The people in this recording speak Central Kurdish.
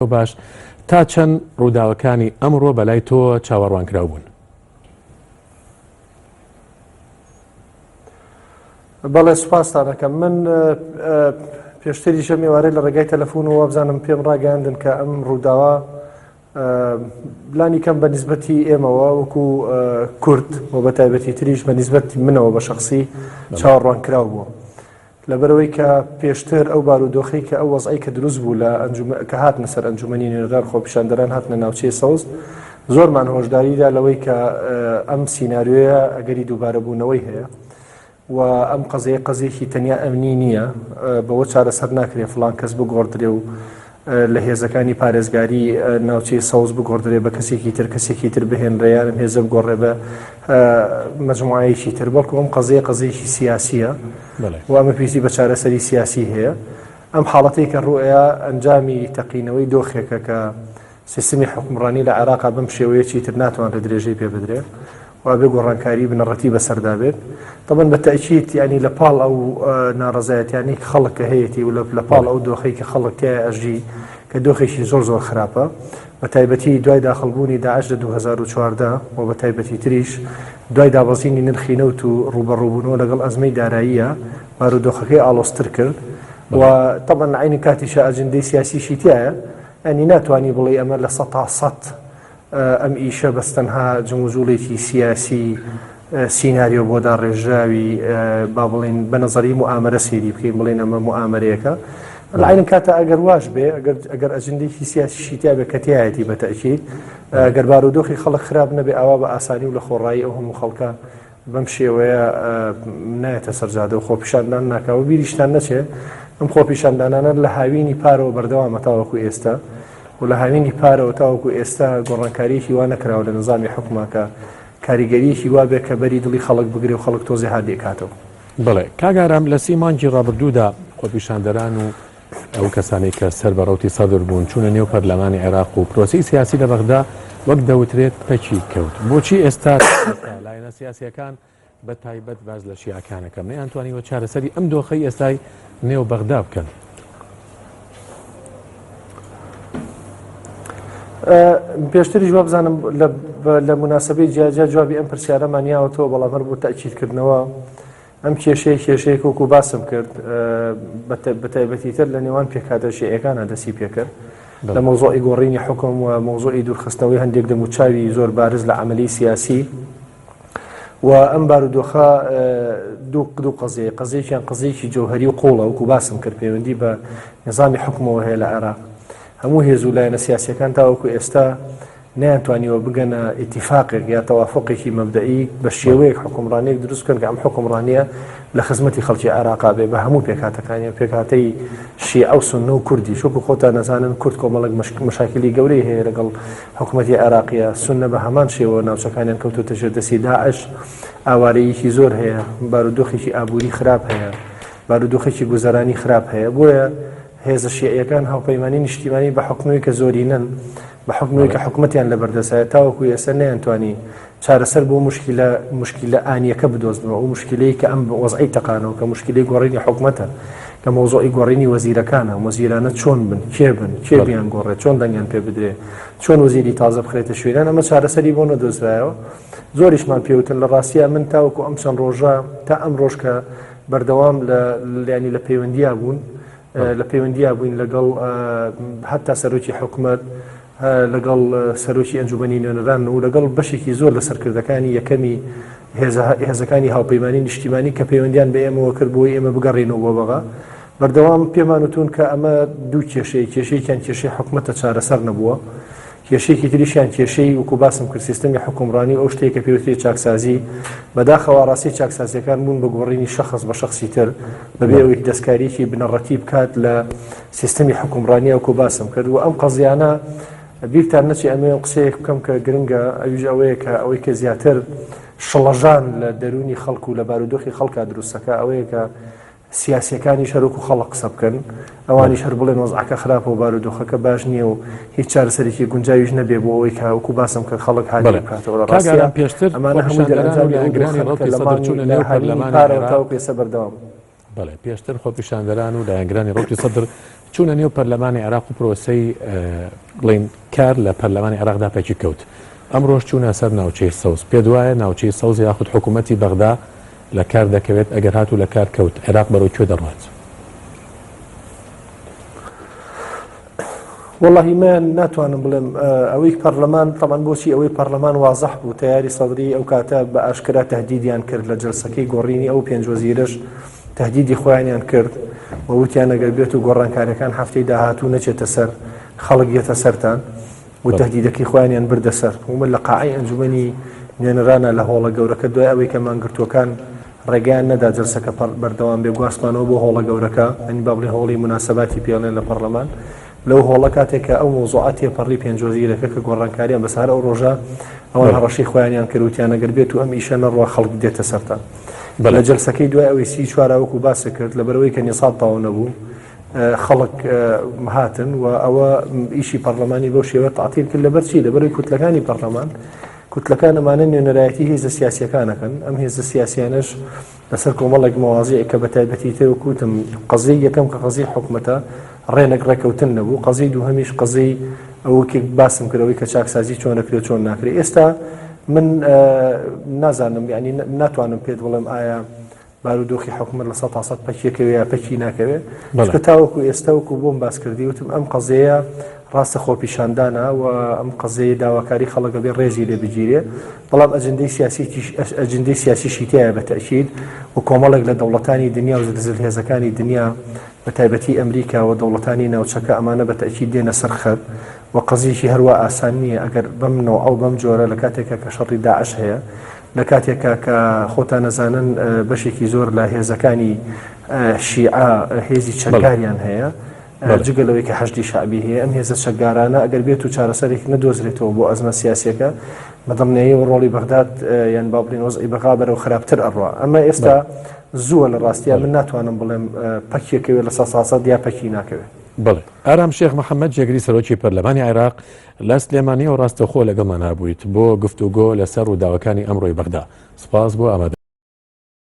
تۆ باش تا چەند ڕووداوەکانی ئەمڕۆ بەلای تۆ چاوەڕوانکراو بوون؟ بەڵێ سوپاستا دەکەم من پێشتری ژە مێوارەی لە ڕێگای تەلەفۆن و وابزانم پێم ڕاگەاندن کە ئەم ڕووداوە بلانی کەم بە نسبەتی ئێمەوە وەکو کورد و بە تایبەتی تریش بە نسبەتی منەوە بە شخصی چاوەڕوان کراو بووە. لەبەرئەوەی کە پێشتر ئەو بارودۆخەی کە ئەو وەزعەی کە دروست بوو لە ئەنجومە کە هاتنە سەر ئەنجومەنی نوێنەران خۆپیشاندەران هاتنە ناوچەی سەوز زۆرمان هۆشداریدا لەوەی کە ئەم سینناریۆیە ئەگەری دووبارەبوونەوەی هەیە و ئەم قەزەیە قەزێکی تەنیا ئەمنی نییە بەوە چارەسەر ناکرێت فلان کەس بگۆڕدرێ و لە هێزەکانی پارێزگاری ناوچەی سەوز بگۆڕدرێ بە کەسێکی تر کەسێکی تر بهێنرێ یانم هێزە بگۆڕێ بە مجموعایەکی تر بەڵکو ئەم قەزەیە قەزەیەکی سیاسیە وامە پێویستی بە چارەسەری سیاسی هەیە ئەم حاڵەتی کە ڕوئەیە ئەنجامی تەقینەوەی دۆخێکە کە سیستمی حکومڕانی لە عێراقا بم شێوەیەکی تر ناتوان لە درێژەی پێ بدرێ وابێ گۆڕانکاری بنەڕەتی بەسەردا بێت تەبەن بە تەکیت ینی لە پاڵ ئەو ناڕزایەتیانی خەڵک کە هەیەی و لە پاڵ ئەو دۆخی کە خەڵک تای ئەژی کە دۆخێکی زۆر زۆر خراپە بە تایبەتی دوای داخڵبوونی داعش لە 2014 و بە تایبەتی تریش دوای دابەزینی نرخی نەوت و ڕوبەڕوبوونەوە لەگەڵ ئەزمەی داراییە بارودۆخەکەی ئالۆستر کرد و تەبەن عینی کاتیشە ئەجندەی سیاسیشی تایە ئەنی ناتوانانی بڵێ ئەمە لە سە تا سە ئەم ئیشە بەس تەنها جموجوڵێکی سیاسی سیناریۆ بۆ داڕێژراوی با بڵین بە نظری موامرە سێری بکەین بڵێن ئەمە موامرەیەەکە لەعین کاتە ئەگەر واش بێ ئەگەر ئەگەر ئەجندێکی سیاسیشی تیاێ کەتیایەتی بەتەکیید گەربارودۆخی خەڵک خراپ نەبێ ئاوا بە ئاسانی و لە خۆڕایی ئەو هەموو خەڵکە بەم شێوەیە نایەتە سەر جادە و خۆپیشاندان ناکا و بیریشتان نەچێ ئەم خۆپیشاندانانە لە هاوینی پارەوە بەردەوامە تاوەکو ئێستا و لە هاوینی پارەوە تاوەکو ئێستا گۆڕانکاریەکی وا نەکراوە لە نظامی حکوماکە کاریگەریەکی وابێ کە بەری دڵی خەڵک بگرێ و خەڵک تۆزێ هادێکاتەوە. بەڵێ کاک ئارام لە سی مانگی ڕابردوودا خۆپیشاندەران و ئەو کەسانەی کە سەر بە ڕەوتی سەدر بوون چوونە نێو پەرلەمانی عێراق و پرۆسی سیاسی لە بەغدا وەک دەوترێت پەکی کەوت بۆچی ئێستا لایەنە سیاسەکان بە تایبەت باز لە شیعەکانەکە مەیان توانیوە چارەسەری ئەم دۆخی ئێستای نێو بەغدا بکەن پێشتری جواب بزانم لە مناسبەی جیاجیا جوابی ئەم پرسیارەمانیاوەتەوە بەڵام هەر بۆ تاکیلکردنەوە ئەم کێشەیە کێشەیەک وەکو باسم کرد بە تایبەتیتر لە نێوان پێکاتە شێعەکانە دەسی پێکرد لە مۆزۆی گۆڕینی حکم و مۆزۆی دوورخستنەوەی هەندێک دەموچاوی زۆر بارز لە عملی سیاسی و ئەم بارودۆخە دوو قدو قەزیە قەزیێکیان قزیێکی جەوهری و قوڵە وکو باسم کرد پەیوەندی بە نظامی حکومەوە هەیە لە عێراق هەموو هێز و لایەنە سیاسەکان تاوەکو ئێستا نەیانتوانیوە بگەنە ئیتیفاقێک یا تەوافوقێکی مەبدەئی بە شێوەیەک حکومڕانیەک دروست بکەن کە ئەم حکومڕانیە لە خزمەتی خەڵکی عێراقا بێ بە هەموو پێکاتەکانی و پێکاتەی شیعە و سنە و کوردی شوکو خۆتان نەزانن کورد کۆمەڵک مشاکلی گەورەی هەیە لەگەڵ حکوومەتتی عێراقیە سنە بە هەمان شێوە ناوچەکانیان کەوتوتە ژێر دەستی داعش ئاوارەیەکی زۆر هەیە بارودۆخێکی ئابووری خراپ هەیە بارودۆخێکی گوزەرانی خراپ هەیە بۆیە هێزە شیعەکان هاوپەیمانانی نیشتیمانی بە حکومی کە زۆرینەن بە حوکمەوەی کە حکومەتیان لە بەردەستایە تاوەکو ئێستا نەیانتوانی چارەسەر بۆ موشکیلە موشکیلە ئانییەکە بدۆزنەوە ئەو موشکیلەی کە ئەم وەزعەی تەقانەوە کە موشکیلەی گۆڕینی حکومەتە کە مەوزوعی گۆڕینی وەزیرەکانە وەزیرانە چۆن بن کێ بن کێ بیانگۆڕێت چۆن دەنگیان پێ بدرێ چۆن وەزیری تازە بخرێتە شوێنان ئەمە چارەسەری بۆ نەدۆزرایەوە زۆریشمان پێوتن لە ڕاستیە من تاوەکو ئەم چەند ڕۆژە تا ئەم ڕۆژکە بەردەوام لە لانی لە پەیوەندیا بوون لە پەیوەندیا بووین لەگەڵ هەتا سەرۆکی حکومەت لەگەڵ سەرۆکی ئەنجومەنی نوێنەران و لەگەڵ بەشێکی زۆر لە سەرکردەکانی یەکەمی هێزەکانی هاوپەیمانانی نیشتیمانی کە پەیوەندیان بە ئێمەوە کرد بۆی ئێمە بگەڕێنەوە بۆ بەغا بەردەوام پێمانوتون کە ئەمە دوو کێشەیە کێشەیەکیان کێشەی حکوومەتە چارەسەر نەبووە کێشەیەکی تریشیان کێشەی وەکو باسم کرد سیستەمی حکومڕانی و ئەو شتەیە کە پێوتری چاکسازی بەداخەوە ڕاستی چاکسازیەکان بوون بە گۆڕینی شەخص بە شخصی تر بەبێ ئەوەی دەستکاریکی بنەڕەتی بکات لە سیستەمی حکومڕانی ئەوکو باسم کرد و ئەم قەزیانە بیرتان نەچی ئەمێ و قسەیەک بکەم کە گرنگە ئەویش ئەوەیە کە ئەوەی کە زیاتر شڵەژان لە دەرونی خەڵکو لە بارودۆخی خەڵکە دروستەکە ئەوەیە کە سیاسیەکانیش هەر وەکو خەڵک قسە بکەن، ئەوانیش هەر بڵێن وەزعەکە خراپە و بارودۆخەکە باش نییە و هیچ چارەسەرێکی گونجاویش نەبێ بۆ ئەوەی کە وەکو باسم کرد خەڵک هاریاری بەڵێ بکاتەوە لە کاک ڕاستیدا ئارام پێشتر ئەمانە هەمووی خۆپیشاندەران و دەرئەنجامی ئەو لایەنگرانی دۆخەن کە ڕەوتی لە سەدر مانگی چوونە لە نێو هەرینی پەرلەمانی پارەوە عێراق تاوەکو ئێستا بەردەوامە. بەڵێ پێشتر خۆپیشاندەران و لایەنگرانی ڕەوتی سەدر چوونە نێو پەرلەمانی عێراق و پرۆسەی ئە، بڵێین کار لە پەرلەمانی عێراقدا پەکی کەوت، ئەمڕۆش چوونە سەر ناوچەی سەوز، پێت وایە ناوچەی سەوز یاخود حکوومەتی بەغدا، لە کار دەکەوێت ئەگەر هات و لە کار کەوت عێراق بەرەو کوێ دەڕوات؟ وەڵی من ناتوانم بڵێم ئەوەی پەرلەمان تەمان بۆچی ئەوەی پەرلەمان وازەح بوو تیاری سەدرری ئەو کاتە بە ئاشکرا تهدیدیان کرد لە جلسەکەی گۆڕینی ئەو پێنجۆزیرش تهدیدی خۆیانیان کرد ووتیان نەگەر بێت و گۆڕانکاریەکان هەفتەی داهاتوو نەچێتە سەر خەڵک یەتە سەران و تەهدیدەکەی خۆیانیان بردە سەر ومە لە قاعی ئەنجومەنی نوێنەرانە لە هۆڵە گەورەکە دوای ئەوەی کە مانگرتوەکان ڕێگەیان نەدا جلسەکە بەردەوام بێ گواستمانەوە بۆ هۆڵە گەورەکە ئەنی بابلی هۆڵی مناسباتی پێڵێن لە پەرلەمان لەو هۆڵە کاتێکە ئەو مۆزوعات تێپەڕی پێنجۆزیرەکە کە گۆڕانکاریان بەسەر ئەو ڕۆژە ئەوان هەڕەشی خۆیانیان کردوتیان نەگەر بێت و ئەم ئیشە نەڕوە خەڵک دێتە سەرتان بەلە جلسەکەی دوای ئەوەی سی چوارەوەکو باسە کرد لە بەرەوەی کە نیساب تاو نەبوو خەڵک هاتن و ئەوە ئیشی پەرلەمانی بۆ شێوە تعتیل کرد لەبەر چی لەبەری کوتلەکانی پەرلەمان کوتلەکان ئەمانە نوێنەرایەتی هێزە سیاسەکانەکەن ئەم هێزە سیاسیانش لەسەر کۆمەڵێک مەوازی کە بە تایبەتی تێ وکوتم قزی یەکەم کە قزی حکوومەتە ڕێنێک ڕێکەوتن نەبوو قزی دوو هەمیش قزی ئەوکێک باسم کردەوەی کە چاکسازی چۆن نەکرێت چۆن ناکرێت ئێستا من نازانم ینی ناتوانم پێت بڵێم ئایا بارودۆخی حکومەت لە سەد تا سەد پەکیەکەوێ یا پەکی ناکەوێ چکە تاوەکو ئێستا وەکو بۆم باس کردی وتم ئەم قەزەیە ڕاستە خۆپیشاندانە و ئەم قەزەیە داواکاری خەڵەکە بێ ڕێزی لێ بگیرێ بەڵام ئەجندەی سیاسیش ئەجندەی سیاسیشی تایە بە تەکیید و کۆمەڵێک لە دەوڵەتانی دنیا و زلزل هێزەکانی دنیا بە تایبەتی ئەمریکا و دەوڵەتانی ناوچەکە ئەمانە بە تەکی دێنە سەر خەت و قەزیشی هەروە ئاسان نییە ئەگەر بەم نەوە ئەو بەم جۆرە لە کاتێکە کە شەڕی داعش هەیە لە کاتێکا کە خۆتان ئەزانن بەشێکی زۆر لە هێزەکانی شیعە هێزی چەکداریان هەیە جگە لەوەی کە حەشدی شعبی هەیە ئەم هێزە چەکدارانە ئەگەر بێت و چارەسەرێک نەدۆزرێتەوە بۆ ئەزمە سیاسەکە بەدڵنیایی و ڕۆڵی بەغداد یان با بڵین وەزعی بەغا بەرەو خراپتر ئەڕوا ئەمە ئێستا زووە لە ڕاستیان من ناتوانم بڵێم پەکیەکەوێت لە ساساسە دیا پەکی ناکەوێت بڵێ ئارام شێخ محەممەد جێگری سەرۆکی پەرلەمانی عێراق لە سلێمانیەوە ڕاستەوخۆ لەگەڵمان هابوویت بۆ گفتوگۆ لەسەر ڕووداوەکانی ئەمڕۆی بەغدا. سوپاس بۆ ئامادەبوونت.